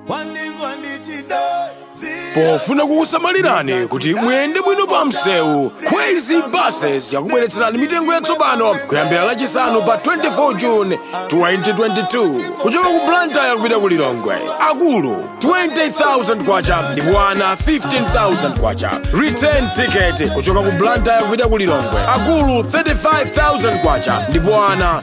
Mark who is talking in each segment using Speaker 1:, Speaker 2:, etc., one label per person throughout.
Speaker 1: wandizwa ndichidai pofuna kukusamalirani kuti muyende bwino pa msewu kwezy buses yakubweretserani mitengo yatsopano kuyambira lachisanu pa 24 june 2022 kuchoka ku blantyre kupita ku lilongwe akulu 20000 kwacha ndipo ana 15000 kwacha return ticket kuchoka ku blantyre kupita ku lilongwe akulu 35000 kwacha ndipo ana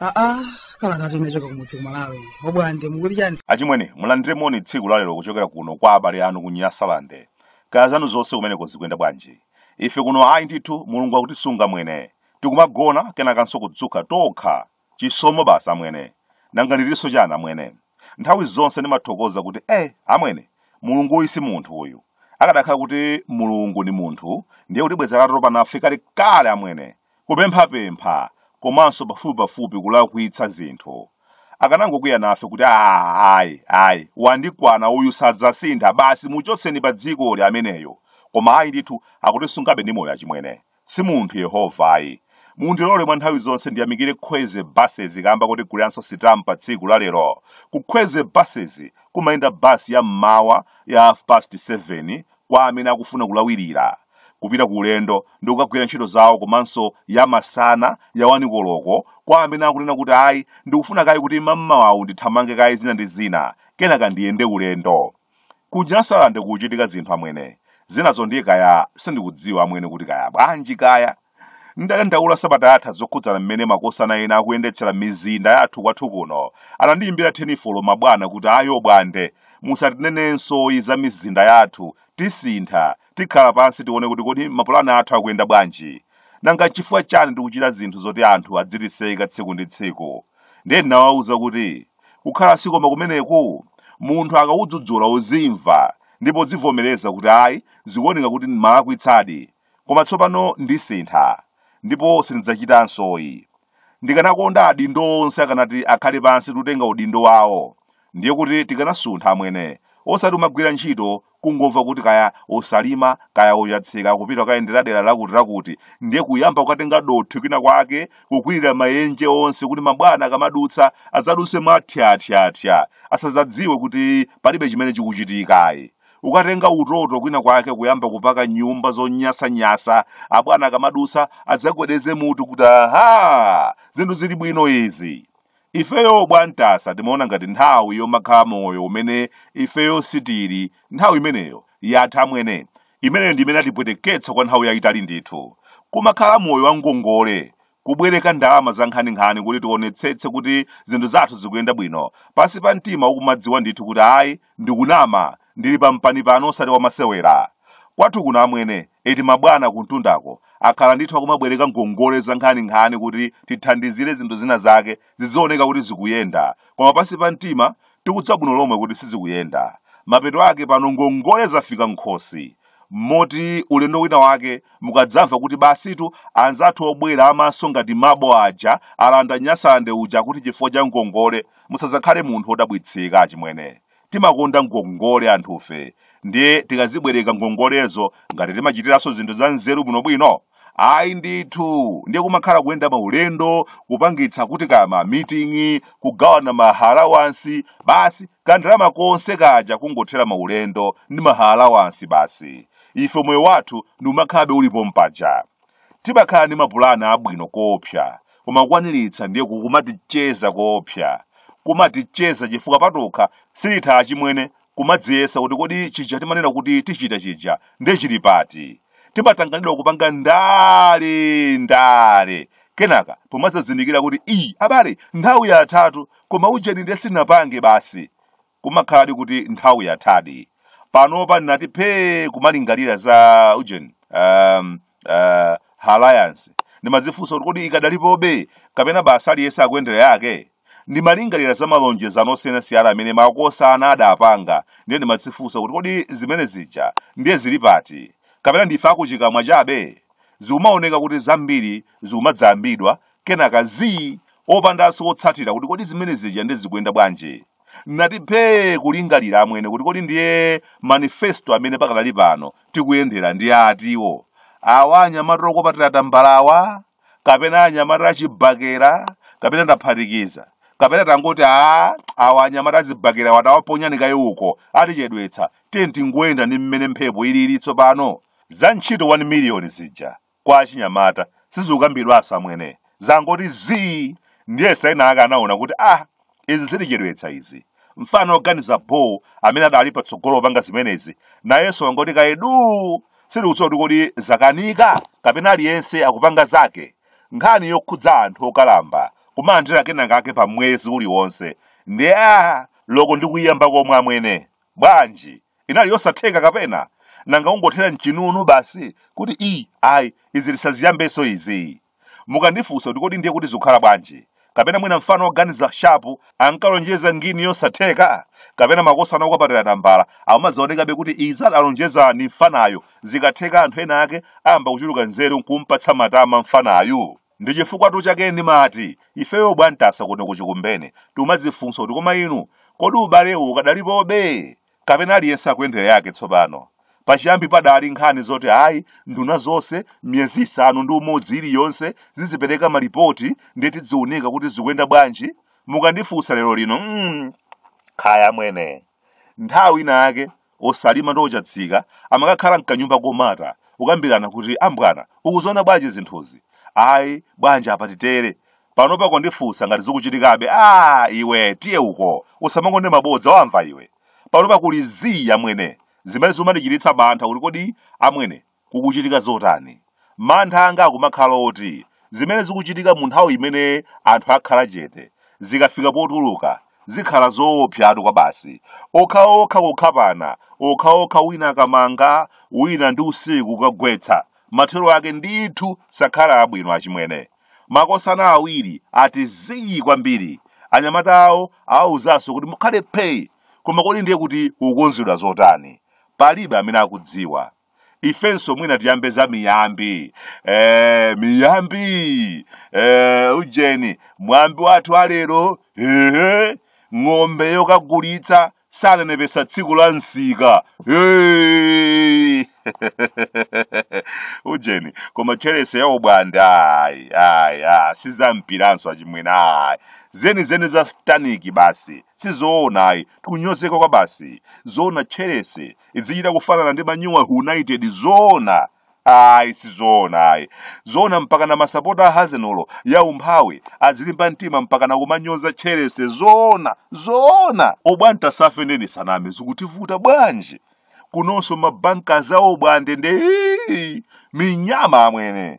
Speaker 2: aa kalata inachoka kumudzi kumalawi obwande mukuti chani achimwene mulandire
Speaker 3: moni tsiku lalero kuchokera kuno kwa abale anu ku nyasalande kaya zanu zonse kumeneko zikuyenda bwanji ife kuno ayi ndithu mulungu akutisunga amwene tikumagona kenakanso kudzuka tokha Chisomo basi amwene. Nanga ndilinso chani amwene? Nthawi zonse ndimathokoza kuti eh amwene, Mulungu uyu si munthu uyu. Akadakhala kuti Mulungu ndi munthu, ndiye kuti bwenzi atatopa nafe kalekale amwene. Kupemphapempha komanso pafupipafupi kulakwitsa zinthu. Akanangokwiya nafe kuti aah ayi, ayi, wandikwana uyu sadzasintha, basi muchotseni padzikoli ameneyu. Koma ayi ndithu, akutisungabe ndi moyo achimwene. si munthu yehova ayi mundilole mwa nthawi zonse ndiyamikire kwezy buses kamba kotiguliranso sitampa tsiku la lero ku kwezy buses kumayenda basi ya mmawa ya half past 7 kwa amene akufuna kulawirira kupita ku ulendo ndi kukagwira ntchito zawo komanso ya masana ya wanikoloko kwa amene akunena kuti ayi ndikufuna kaye kuti mammawawu ndithamange kaye zina ndi zina kenaka ndiyende ulendo Ku Nyasalande kukuchitika zinthu amwene. Zinazo ndiye kaya sindikudziwa amwene kuti kaya bwanji kaya. Ndadandaula sabata yatha zokhudzana mmene makosana ena akuyendetsera mizinda yathu kwathu kuno. Anandiyimbira thenifolo mabwana kuti ayi obwande. Musatinenensoyi za mizinda yathu. Tisintha. Tikhala pansi tione kuti kodi mapulani athu akuyenda bwanji. Nanga chifukwa chani tikuchita zinthu zoti anthu adzitiseka tsiku ndi tsiku. Ndiye ndinawawuza kuti kukhala si koma kumeneku munthu akakudzudzula uzimva ndipo udzivomereza kuti ayi zikuoneka kuti ndimalakwitsadi koma tsopano ndisintha ndipo sindidzachitansoyi ndikanakonda adindo onse akanati akhale pansi kutenga udindo wawo ndiye kuti tikanasuntha amwene osati kumagwira ntchito Kungomva kuti kaya Osalima kaya Ochatsika akupita kukayendera dera lakutilakuti ndiye kuyamba kukatenga dothi kwinakwake kukwirira mayenje onse kuti mabwana akamadutsa adzadutse mwathyathyathya asadzadziwe kuti palibe chimene chikuchitika ayi. Kukatenga utoto kwinakwake kuyamba kupaka nyumba zonyasanyasa abwana akamadutsa adzagwedeze mutu kuti, Aha! Zinthu zili bwino izi! ifeyo bwantasa timaona ngati nthawi yomakhala moyo umene ifeyo sitili nthawi imeneyo yatha amwene imeneyo ndi yimene yatipweteketsa kwa nthawi yayitali ndithu kumakhala moyo wa ngongole kubwereka ndalama za nkhaninkhani kuti tionetsetse kuti zinthu zathu zikuyenda bwino pansi pa mtima ukumadziwa ndithu kuti ayi Ndikunama, ndili pa mpani pano osati wamasewera. Kwathu kuno amwene, eti mabwana kumtundako, akhala ndithu akumabwereka ngongole zankhaninkhani kuti tithandizire zinthu zina zake zidzioneka kuti zikuyenda, koma pansi pa mtima tikudziwa bwino lomwe kuti sizikuyenda. Mapeto ake pano ngongole zafika m'khosi, moti ulendo wina wake mukadzamva kuti basitu anzathu obwera amaso ngati mabo aja alanda Nyasaland uja akuti chifukwa cha ngongole, musazakhale munthu odabwitsika achimwene timakonda ngongole anthufe ndiye tikazibwereka ngongolezo ngati timachitiranso zinthu za nzeru bwinobwino ayi ndithu ndiye kumakhala kuyenda maulendo kupangitsa kuti kaya ma meeting kugawana ma allowance basi kandalama konse kaja kungothera maulendo ndi ma allowance basi ife moyo wathu ndi umakhalabe ulipo mpaja Timakhala ndi mapulan abwino koopsa, koma kukwaniritsa ndiye kumaticheza koopsa. Kumaticheza chifukwa patokha sititha achimwene kumadziyesa kuti kodi chija timanena kuti tichita chija ndiye chili pati. Timatanganidwa kupanga ndale ndale. Kenaka pomadzazindikira kuti ii abale nthawi yathatu koma ujeni ndiye sinapange basi. kumakhaladi kuti nthawi yathadi panopa ndinati phee kumalingalira za ujeni alliance ndimadzifunsa kuti kodi ikadalipobe kapena basi aliyense akuyendera yake ndimalingalira za malonjezano osiyanasiyana amene makosana adapanga ndiye ndimadzifunsa kuti kodi zimene zija ndiye zili pati kapena ndife akuchikamwa chabe zikumaoneka kuti zambiri zikumadzayambidwa kenaka zii opandanso otsatira kuti kodi zimene zija ndiye zikuyenda bwanji nati phee kulingalira amwene kuti kodi ndiye manifesto amene pakadali pano tikuyendera ndi atiwo awa anyamata okopatira tambalawa kapena anyamata achibakera kapena adaphatikiza kapena tangoti a awa anyamata azibakerawa tawaponyani kaye uko atichedwetsa tiye tingoyenda ndi mmene mphepo ilili tsopano za ntchito 1 miliyoni zija kwa achinyamata sizikukambidwanso amwene zangoti zii ndiye saina ake anaona kuti ah izi zitichedwetsa izi mfana oganiza bho amene adali patsogolo opanga zimenezi nayenso wangoti kaye duu sitikudziwa kuti kodi zakanika kapena aliyense akupanga zake nkhani yokhudza anthu okalamba kumalandira kenakake pa mwezi uliwonse ndiye loko ndi kuyiyamba komwe amwene bwanji inali yosatheka kapena nanga kungothera mchinunu basi kuti i ayi izi lisaziyambenso izi mukandifunsa kuti kodi ndiye kuti zikukhala bwanji kapena mwina mfana woganiza shapu ankalonjeza ngini yosatheka kapena makosana okapatira tambala akumadzaonekabe kuti izi adalonjeza ni mfanayo zikatheka anthu ena ake ayamba kuchuluka nzeru nkumpatsa matama mfanayu ndi chifukwatu chake ndimati ifeyo bwantasa kuno kuchikumbene timadzifunsa kuti koma inu kodi ubalewu ukadalipobe kapena aliyense akuyendera yake tsopano pachiyambi padali nkhani zoti ayi nduna zonse miyezi isanu ndi umodzi iliyonse zizipereka malipoti ndiye tidziunika kuti zikuyenda bwanji mukandifunsa lero lino mm, kaya amwene nthawi ina yake osalima ndi ochatsika amakakhala mkanyumba komata kukambirana kuti ambwana ukuziona bwanji zinthuzi ayi bwanji apa titere panopa kundifunsa ngati zikuchitikabe a iwe tiye uko usamakonde mabodza wamva iwe panopa kuli zii amwene zimene zimandichititsa mantha kuti kodi amwene Kukuchitika zotani? Mantha anga akumakhala oti zimene zikuchitika mu nthawi imene anthu akhala chete, zikafika potuluka, zikhala zoopsatu kwabasi. Okhaokha kukhapana, okhaokha wina akamanga, wina ndi usiku kukagwetsa. Mathero ake ndithu sakhala abwino achimwene. Makosana awiri ati zii kwambiri. Anyamata awo awawuzanso kuti mukhale phee! Koma kodi ndiye kuti kukukonzedwa zotani? Palibe amene akudziwa. ifenso mwina tiyambe za miyambi eh, miyambi eh, ujeni mwambi wathu walero ehe ng'ombe yokagulitsa sanenepetsa tsiku la msika Hey! ujeni koma chelese ya obwande ayi ayi ah, si za mpiranso achimwene ayi zenizeni za staniki basi sizoona ayi tikunyozeka kwa basi zoona chelese idzichita kufanana ndi manyuwa united zoona ayi sizoona ayi zoona mpaka na masapota a hazenolo ya umphawi azilimba mtima mpaka na kumanyoza chelese zoona zoona obwantasa ife nde nisaname zikutivuta bwanji kunonso mabankazi a obwande nde minyama amwene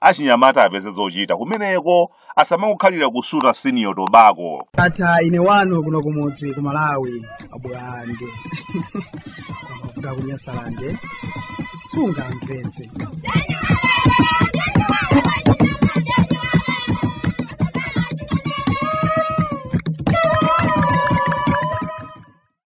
Speaker 3: achinyamata apeze zochita kumeneko asamangokhalira kusuta senior tobacco ndatha ine wanu
Speaker 2: kuno kumudzi ku malawi abwande kuda kunyasalande sungamvetse